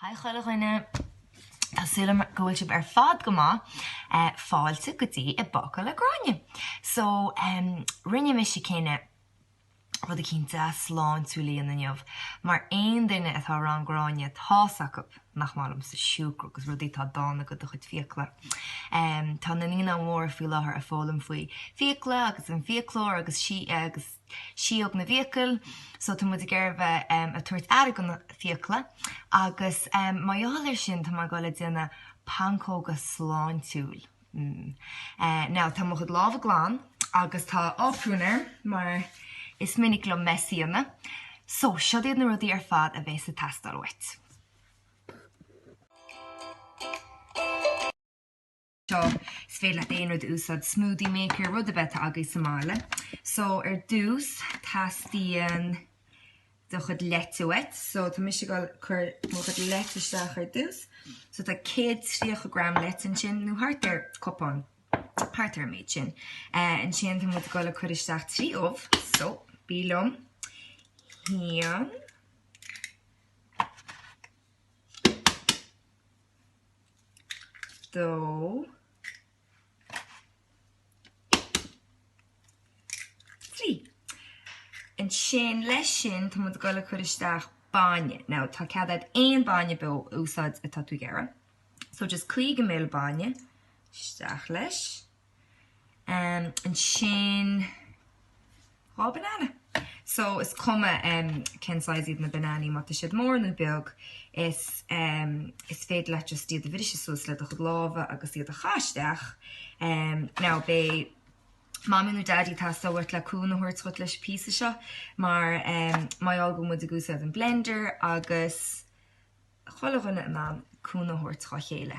Haigh chuile dhuine! Tá súil agam go bhfuil sibh ar fad go maith. Fáilte go dtí I bPócaí le Gráinne. So, rinne mise cinneadh rud eicínt dea-sláintiúil a dhéanamh inniu mar aon duine atá i rang Gráinne, tá's acu nach maith liomsa siúcra agus rudaí atá dána go do chuid fiacla. Tá na Naíonáin Mhóra faoi láthair ag foghlaim faoi fiacla agus an fiaclóir agus agus síóg na bhfiacal so tá muid ag iarraidh a bheith ag tabhairt aire go na fiacla agus mar gheall ar sin tá mé ag goil ag déanamh pancóga sláintiúil. Now, tá mo chuid lámha glan agus tá náprún orm mar is minic liom meiseáil, so seo iad na rudaí ar fad a bheas ag teastáil uait. Seo, is féidir leat aon rud a úsáid, smoothie maker, rud ar bith atá agaibh sa mbaile. So, ar dtús, teastaíonn do chuid leite uait. So tá mise ag cur mo chuid leite isteach ar dtús. So tá 130 gram leite ansin, nó thart ar chupán, thart ar an méid sin. Ansin tá muid ag dul ag cur isteach 3 ubh. So bígí liom. Haon. Dó. Trí. Ansin leis sin, tá muid ag goil ag cur isteach bainne. Now, tá cead agat aon bainne bó a úsáid atá tú ag iarraidh. So just 50 ml bainne isteach leis. Um, ansin, Dhá banana. So is cuma cén size iad na bananaí, má tá siad mór nó beag, is is féidir leat just iad a bhriseadh suas le do chuid lámha agus iad a chaitheamh isteach. Now beidh Mommy nó Daddy ag teastáil uait le cúnamh a thabhairt dhuit leis an píosa seo mar mar gheall go mbeidh muid ag úsáid an blender agus chuile dhuine in ann cúnamh a thabhairt dhá chéile.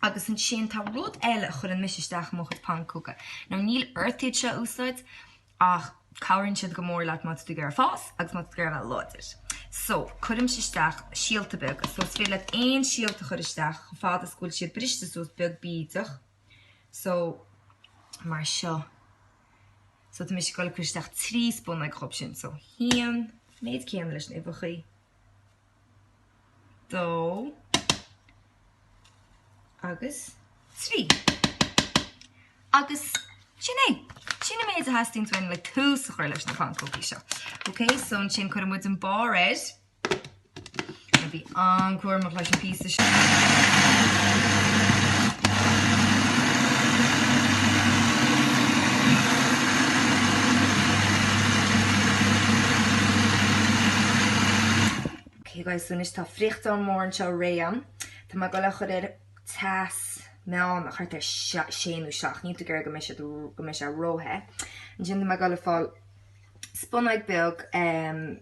agus ansin tá rud eile a chuireann mise isteach i mo chuid pancóga, nó níl ort iad seo a úsáid ach cabhraíonn siad go mór leat má tá tú ag iarraidh fás agus má tá tú ag iarraidh a bheith láidir. So, cuirimse isteach síolta beaga, so is féidir leat aon síolta a chur isteach chomh fada is go bhfuil siad briste suas beag bídeach. So, mar seo. So, tá mise goil cur isteach trí spúnóg acub sin. So, haon, méid céanna leis na huibheachaí. 2 agus 3. Agus sin é. Sin an méid a theastaíonn uainn le tús a chur leis na pancógaí seo. Ok, so ansin cuireann muid an barr air. Bí an-chúramach leis an bpíosa. Agus anois tá friochtán mór anseo réidh a'm. Tá mé ag dul é a chur ar teas meán thart ar sé nó seacht. Níl tú ag iarraidh go mbeidh siad go mbeidh sé ró-the. Ansin tá mé ag dul ag fáil spunóig beag.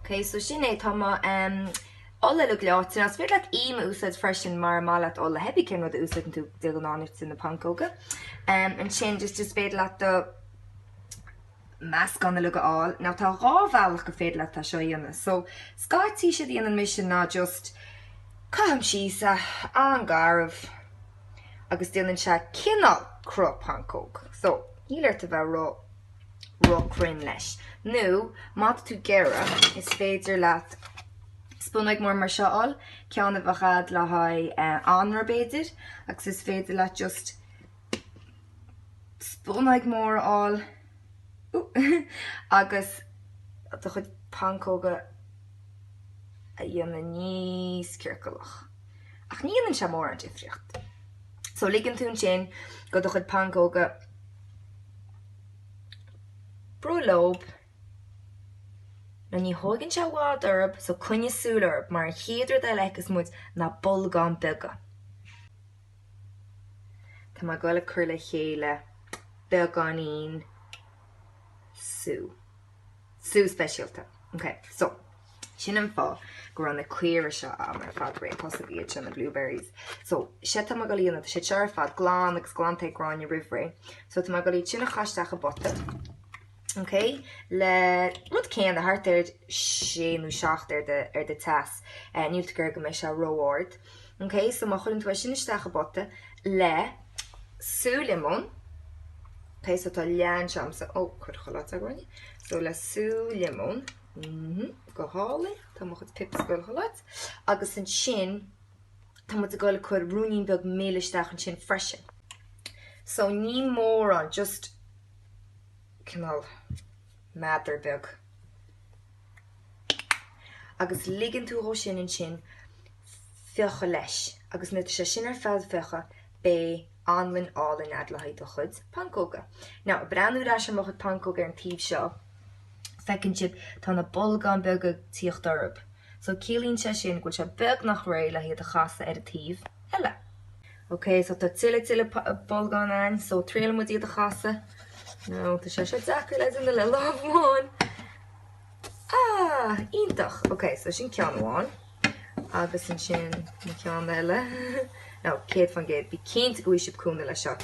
Ok, so sin é, tá mo ola uilig leáite. Now, is féidir leat im a úsáid freisin mara maith leat ola hé bí cén rud a úsáideann tú de ghnáth nuair tú na pancóga. Ansin, just is féidir leat do meascán uilig a fháil. Now, tá dhá bhealach gur féidir leat seo a dhéanamh. So, scaití séard a dhéanann mise ná just caithim síos é an-gharbh agus déanann sé cineál cruth pancóg. So, níl ort a bheith ró-. ró chruinn leis. Nó má tá tú ag iarraidh, is féidir leat spunóig mór mar seo a fháil, ceann a bheadh a'd le haghaidh anraith b'fhéidir, agus is féidir leat just spunóig mór a fháil agus do chuid pancóga a dhéanamh níos ciorcalach. Ach ní dhéanann sé mórán difríocht. So ligeann tú ansin go do chuid pancóga Bruith leob, now ní thóigeann sé i bhfad orthub so coinnigh súil orthub mar an chéad rud eile a fheicfeas muid ná bolgáin beaga. Tá mé ag dul ag cur le chéile beagáinín sú. Sú speisialta. Ok, so. Sin an fáth go raibh na caora seo a'm ar fad réitithe, so b'iad seo na blueberries. So, sea tá mé ag dul iad, tá siad seo ar fad glan agus glanta ag Gráinne roimh ré. So tá mé ag dul iad sin a chaitheamh isteach i bpota, ok, le rud céanna, thart ar sé nó seacht ar do, ar do teas. Eh, níl tú ag iarraidh go mbeidh sé ró-ard. Ok, so má chuireann tú é sin isteach i bpota le sú liomóid, ok, so tá leath anseo a'msa, oh, ag dul chuile áit, Gráinne, so le sú liomóid, Mh, go hálainn. Tá mo chuid pips ag dul chuile áit. Agus ansin, tá muid ag dul ag cur ruainnín beag mil isteach ansin freisin. So ní mórán, just cineál meadar beag. Agus ligeann tú dhó sin ansin fiuchadh leis agus nuair atá sé sin ar fad fiuchadh, beidh. anlann álainn a'd le haghaidh do chuid pancóga. Now, ag breathnú ar ais ar mo chuid pancóg ar an taobh seo, feiceann sibh tá na bolgáin beaga ag tíocht orthub. So, ciallaíonn sé sin go bhfuil sé beagnach réidh le hiad a chasadh ar an taobh eile. OK, so tá tuilleadh tuilleadh bolgán ann, so triailfidh muid iad a chasadh. Now, tá sé seo deacair le déanamh le lámh amháin. Ah, iontach! OK, so sin ceann amháin. agus ansin an ceann eile, no, 100%, bí cinnte go bhfaigheann sibh cúnamh leis seo.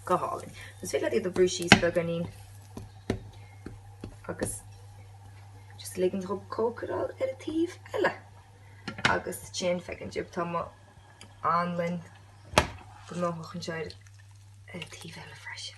Go hálainn. Is féidir leat iad a bhrú síos beagáinín agus just lig dóibh cócaráil ar an taobh eile. Agus ansin feicim sibh, tá mo anlann gnóthach anseo ar an taobh eile freisin.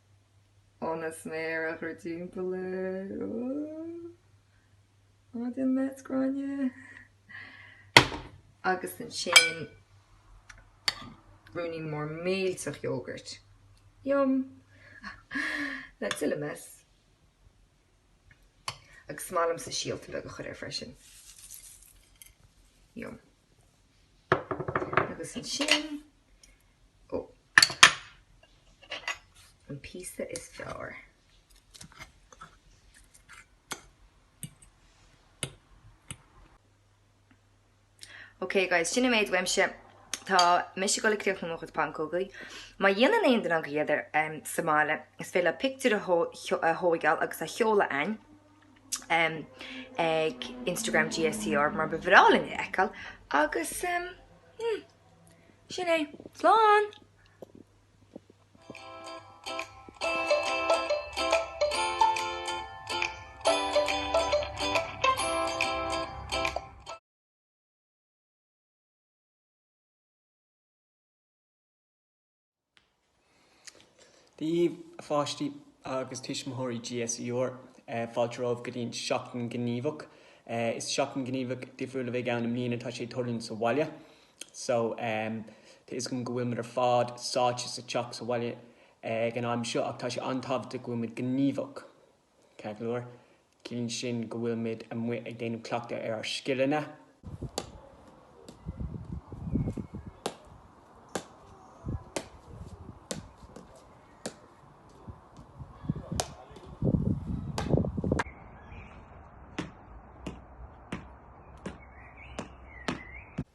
ionas méar a chur timpeall ar maidin Met Gráinne agus ansin spúnóg mhór mhillteach iógairt, yum, le tuilleadh mess agus is maith liomsa síolta beaga a chur air freisin, yum. Agus ansin, ó, an píosa is fearr. Ok guys, sin an méid uaimse. Tá mise ag dul ag críochnú mo chuid pancógaí. Má dhéanann aon duine agaibh iad sa mbaile, is féidir libh pictiúr a thógáil agus a sheoladh chugainn. ag Instagram GSCR mar ba bhreá linn iad a fheiceáil agus hmm, sin é slán! Dia daoibh a pháistí agus a thuismitheoirí GSCR fáilte romhaibh go dtí an Seachtain Ghníomhach. Is Seachtain Ghníomhach difriúil a bheidh ann i mbliana, tá sé ar siúl sa bhaile so tá fhios agam go bhfuil muid ar fad sáite sa teach sa bhaile ag an am seo ach tá sé an-tábhachtach go bhfuil muid gníomhach. Chuile lá. Ciallaíonn sin go bhfuil muid amuigh ag déanamh cleachtadh ar ár scileanna.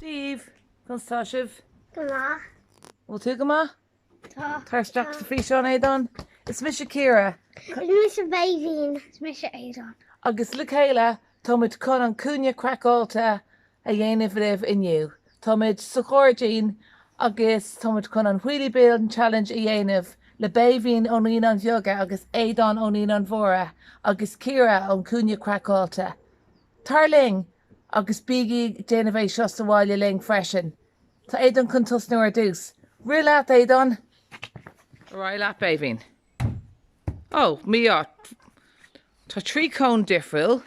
Daoibh, conas atá sibh? Go maith. Bhfuil tú go maith? Tá. Tar isteach sa físeán, Aodán. Is mise Ciara. Is mise Méibhín. Is mise Aodán. Agus le chéile, táimid chun an cúinne craiceáilte a dhéanamh libh inniu. Táimid sa ghairdín agus táimid chun an Wheelie Bin Challenge a dhéanamh le Béibhinn ó Naíonáin Bheaga agus Aodán ó Naíonáin Mhóra agus Ciara ón Cúinne Craiceáilte. Tar linn agus bígí ag déanamh é seo sa bhaile linn freisin. Tá Aodán chun tosnú ar dtús. Rith leat, Aodán! Ar aghaidh leat, Béibhinn! Ó, mí-ádh, tá trí chón difriúil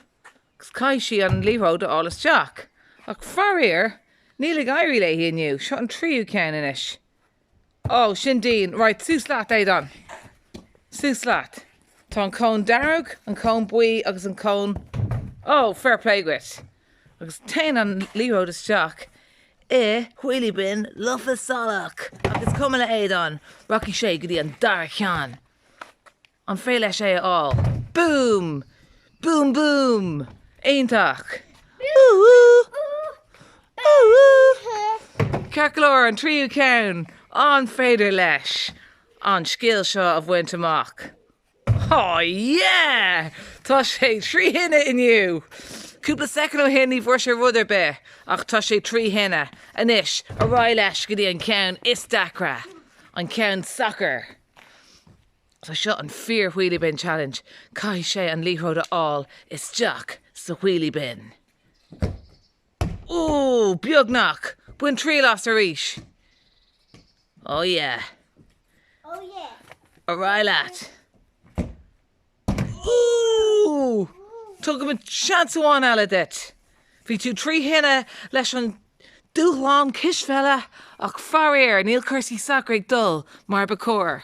Caithfidh sí an liathróid a fháil isteach ach faraor níl ag éirí léi inniu. Seo an tríú ceann anois. Ó, sin Aodán. Right, suas leat Aodán. Suas leat. Tá an cón dearg, an cón buí agus an cón, ó, fair play dhuit. Agus téann an liathróid isteach i wheelie bin lofa salach ach is cuma le Aodán, rachaidh sé go dtí an dara ceann. An féidir leis é a fháil? Boom! Boom boom! Iontach! Ooh ooh! Ooh ooh! Ceartlár an tríú ceann! An féidir leis an scil seo a bhaint amach? Oh yeah! Tá sé trí thine inniu! Cúpla soicind ó shin ní bhfuair sé rud ar bith ach tá sé trí thine anois! Ar aghaidh leis go dtí an ceann is deacra, an ceann sacair! So seo an fíor wheelie bin challenge, caithfidh sé an liathróid a fháil isteach sa wheelie bin. Ooh, beagnach! Bain triail as arís! Oh yeah. Oh yeah. Ar aghaidh leat. Ooh! Tabharfaimid seans amháin eile duit. Bhí tú trí thine leis an dúshlán cispheile ach faraor níl cúrsaí sacair ag dul mar ba chóir.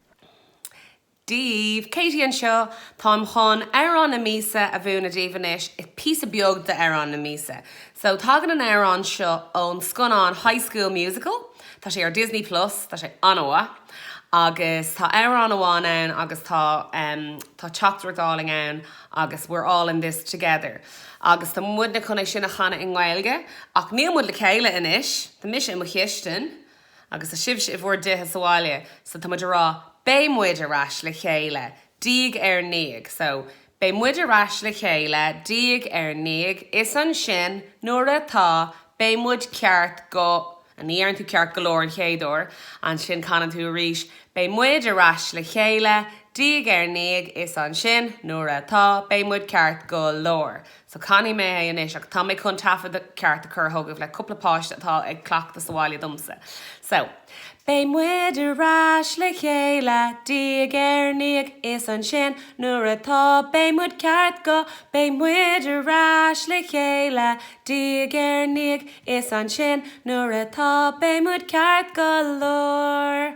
daoibh! Katie anseo! Táim chun Amhrán na Míosa a mhúineadh daoibh anois. Píosa beag d'Amhrán na Míosa. So, tagann an amhrán seo ón scannán High School Musical. Tá sé ar Disney Plus. Tá sé an-mhaith. Agus tá amhrán amháin ann agus tá, em, tá teachtaireacht álainn ann agus we're all in this together. Agus tá muidne chun é sin a chanadh i nGaeilge. Ach níl muid le chéile anois. Tá mise i mo chistin. Agus sibhse i bhur dtithe sa bhaile so tá muid a rá, beidh muid ar ais le chéile diaidh ar ndiaidh so beidh muid ar ais le chéile diaidh ar ndiaidh is ansin nuair atá beidh muid ceart go a ní deireann tú ceart go leor an chéad uair ansin canann tú arís beidh muid ar ais le chéile diaidh ar ndiaidh is ansin nuair atá beidh muid ceart go leor So canfaidh mé é anois ach tá mé chun taifead ceart a chur chugaibh le cúpla páiste atá ag cleachtadh sa bhaile domsa. So. Beidh muid ar ais le chéile, diaidh ar ndiaidh, is ansin, nuair atá, beidh muid ceart go, beidh muid ar ais le chéile, diaidh ar ndiaidh, is ansin, nuair atá, beidh muid ceart go leor.